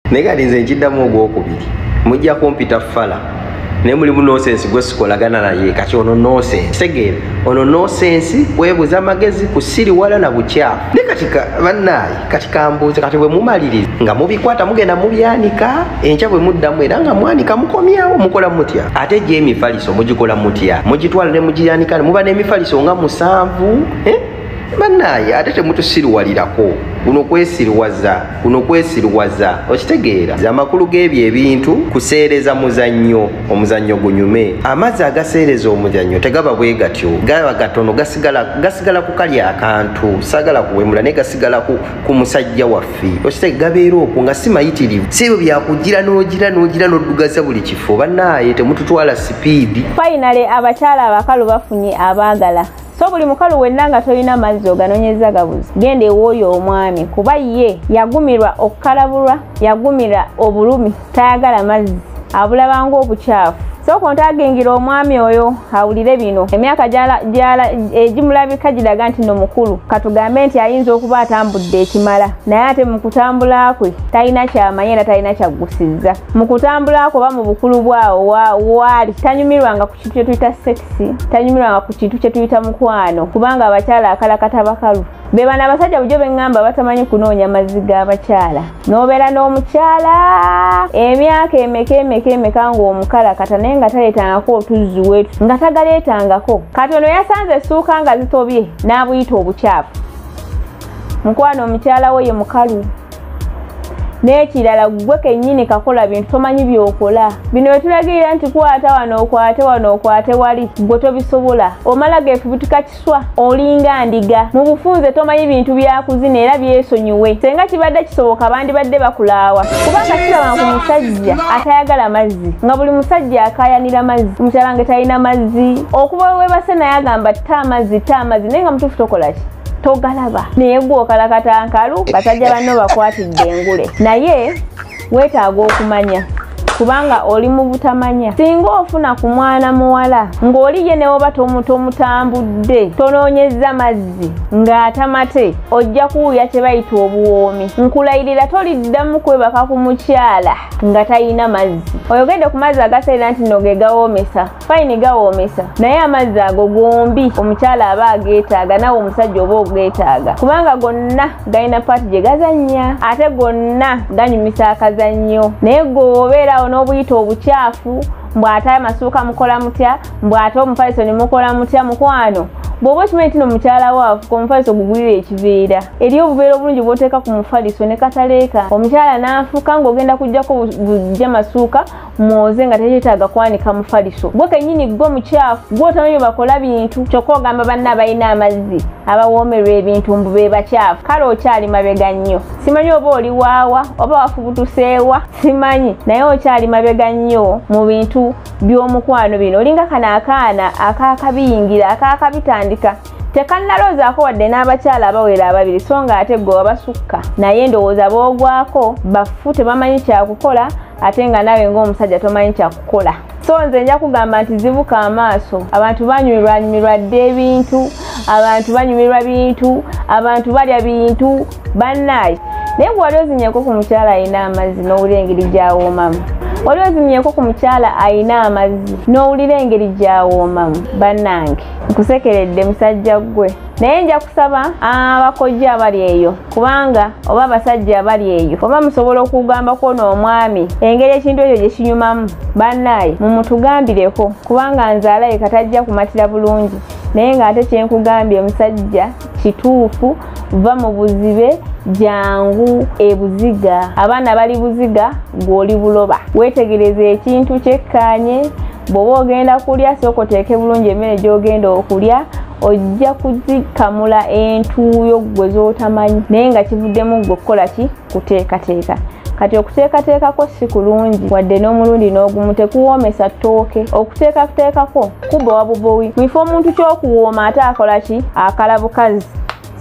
naye kati nze nkiddamu ogwokubiri mujja kumpita fala naye mulimu nosensi gwe sikolagana naye kati ono nosensi tegeera ono nosensi kwebuza amagezi kusiriwala na bukyafu naye kati bannaayi kati kambuuze kati bwe mumaliriza nga mubikwata mugenda mubyanika enkya bwe muddamu era nga mwanika mukomyawo mukola mutya ate gyo emifaliso mugikola mutya mugitwala ne mugiyanika ne muba n'emifaliso nga musanvu eh? bannaaye ate temutusiriwalirako kuno kwesiriwaza kuno kwesiriwaza okitegeera amakulu g'ebyo ebintu kuseereza muzannyo omuzannyo gunyume amazzi agaseereza omuzannyo tegaba bwe gatyo gaba gatono gasigala ku kali akantu sagala kuwemula naye gasigala ku musajja waffe okitege gabeera okwo nga si mayitirivu si ebyo byakugira n'ogira n'ogira n'oddugaza buli kifo bannaaye temututwala sipiidi fayinale abakyala abakalu bafunye abaagala so buli mukalu wenna nga tolina mazzi oganonyeza gabuzi genda ewooyo omwami kuba ye yagumirwa okukalabulwa yagumira obulumi tayagala mazzi abulabanga obukyafu sooka ontagingira omwami oyo awulire bino emyaka egimulabika giraga nti no mukulu katugambe nti ayinza okuba atambudde ekimala naye ate mu kutambula kwe talina kyamanye era talina kyaggusizza mu kutambula kwe oba mu bukulu bwawo waali tanyumirwanga kintu kye tuyita sekisi tanyumirwanga ku kintu kye tuyita mukwano kubanga abakyala akalakata bakalu be bano abasajja bujo beŋŋamba batamanyi kunoonya mazzi g'abakyala n'obeera n'omukyala emyaka emeka emeka emeka ng'omukalakata naye nga taleetangako otuzzi wetu nga tagaleetangako kati ono yasanze essuuka nga zitobye n'abuyita obukyafu mukwano omukyala wo ye mukalu n'ekirala ggwe kennyini kakola bintu tomanyi by'okola bino bye tulagirira nti kwata wano okwate wano okwate wali ggwe tobisobola omala geefubutika kiswa olinga ndiga mu bufunze tomanyi bintu byakuzina era byesonyiwe senga kibadde kisoboka bandibadde bakulaawa kubanga kiraba ku musajja atayagala mazzi nga buli musajja akayanira mazzi omukyala nge talina mazzi okuba webase naye agamba ta amazzi ta amazzi naye nga mutuufu tokola ki togalaba naye gwokalakata nkalu basajja banno bakwatidde engule naye weetaaga okumanya kubanga oli mu butamanya singa ofuna ku mwana muwala ng'oli ye newoba tomutambudde tonoonyezza mazzi ng'atamate ojja kuwulira kye bayita obuwoomi nkulayirira toliddamu kwebaka ku mukyala nga talina mazzi oyogedde ku mazzi agaseera nti nogegawoomesa fayini gawoomesa naye amazzi ago gombi omukyala aba ageetaaga nawe omusajja oba ogeetaaga kubanga gonna galina paati gye gazannya ate gonna ganyumisa akazannyo naye gweobeeraawo n'obuyita obukyafu mbw'ate amasuuka mukola mutya mbw'ate omufaliso ne mukola mutya mukwano bw'oba okimanyi nti no mukyala wo afuka omufaliso gugulira ekiveera eri obuveera obulungi bw'oteeka ku mufaliso ne kataleeka omukyala n'afuka ng'ogenda kujjako bujja masuuka mwoze nga tekyetaaga kwanika mufaliso gwe kenyini gwo mukyafu gwotamanyi bakola bintu kyokka ogamba banna abalina amazzi abawoomerwa ebintu mbu be bakyafu kale okyali mabega nnyo simanyi oba oli waawa oba wafubutuseewa simanyi naye okyali mabega nnyo mu bintu by'omukwano bino olinga kano akaana akakabiyingira akakabitandika tekannaloozaako wadde n'abakyala abawera ababiri so nga ate gwe wabasukka naye ndowooza boogwako bafu tebamanyi kyakukola ate nga naawe ng'omusajja tomanyi kyakukola so nze nja kugamba nti zibuka amaaso abantu banyumirwanyumirwa dda ebintu abantu banyumirwa bintu abantu balya bintu bannaayi naye gwe wali ozinyeko ku mukyala alina amazzi n'owulira engeri gyawoomamu wali ozinyeko ku mukyala alina amazzi n'owulira engeri gyawoomamu bannange nkusekeredde musajja ggwe naye nja kusaba abakojja abali eyo kubanga oba abasajja abali eyo oba musobola okugamba kwona omwami engeri ekintu ekyo gye kinyumamu bannaaye mumutugambireko kubanga nzaalaye katajja kumatira bulungi naye ng'ate kyenkugambye omusajja kituufu va mu buzibe jangu ebuziga abaana bali buziga gwoli buloba wetegereza ekintu kyekkanye bwoba ogenda kulya sooka oteeke bulungi emmere gyogenda okulya ojja kuzikamula entuuyo gwe z'otamanyi naye nga kivuddemu gwe okukola ki kuteekateeka kati okuteekateekako si kulungi wadde n'omulundi n'ogumu tekuwoomesa ttooke okuteekateekako kubowa bubowi mwifa omuntu ky'okuwooma ate akola ki akala bukazi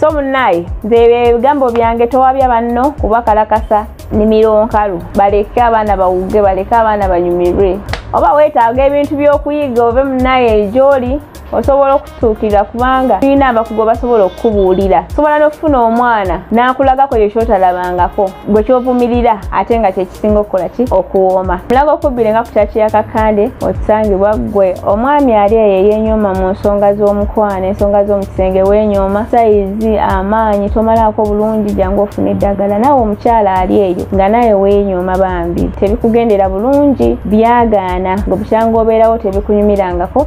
so munaye nze ebigambo byange towabya banno kuba kalakasa nimiro nkalu baleke abaana bawuge baleke abaana banyumirwe oba weetaaga ebintu by'okuyiga ove munaye gyoli osobola okutuukirira kubanga tulina abakugu basobola okukubuulira sobola n'okufuna omwana n'akulagako ekyo kyotalabangako gwe kyovumirira ate nga kyekisinga okukola ki okuwooma mulaga okubbire nga kukyaki yakakande otusangibwa ggwe omwami ali eyo eyenyooma mu nsonga z'omukwano ensonga z'omukisenge wenyooma sayizi amaanyi tomalaako bulungi jangu ofuna eddagala naawe omukyala ali eyo nga naye wenyooma bambi tebikugendera bulungi byagaana gwe bukyanga obeerawo tebikunyumirangako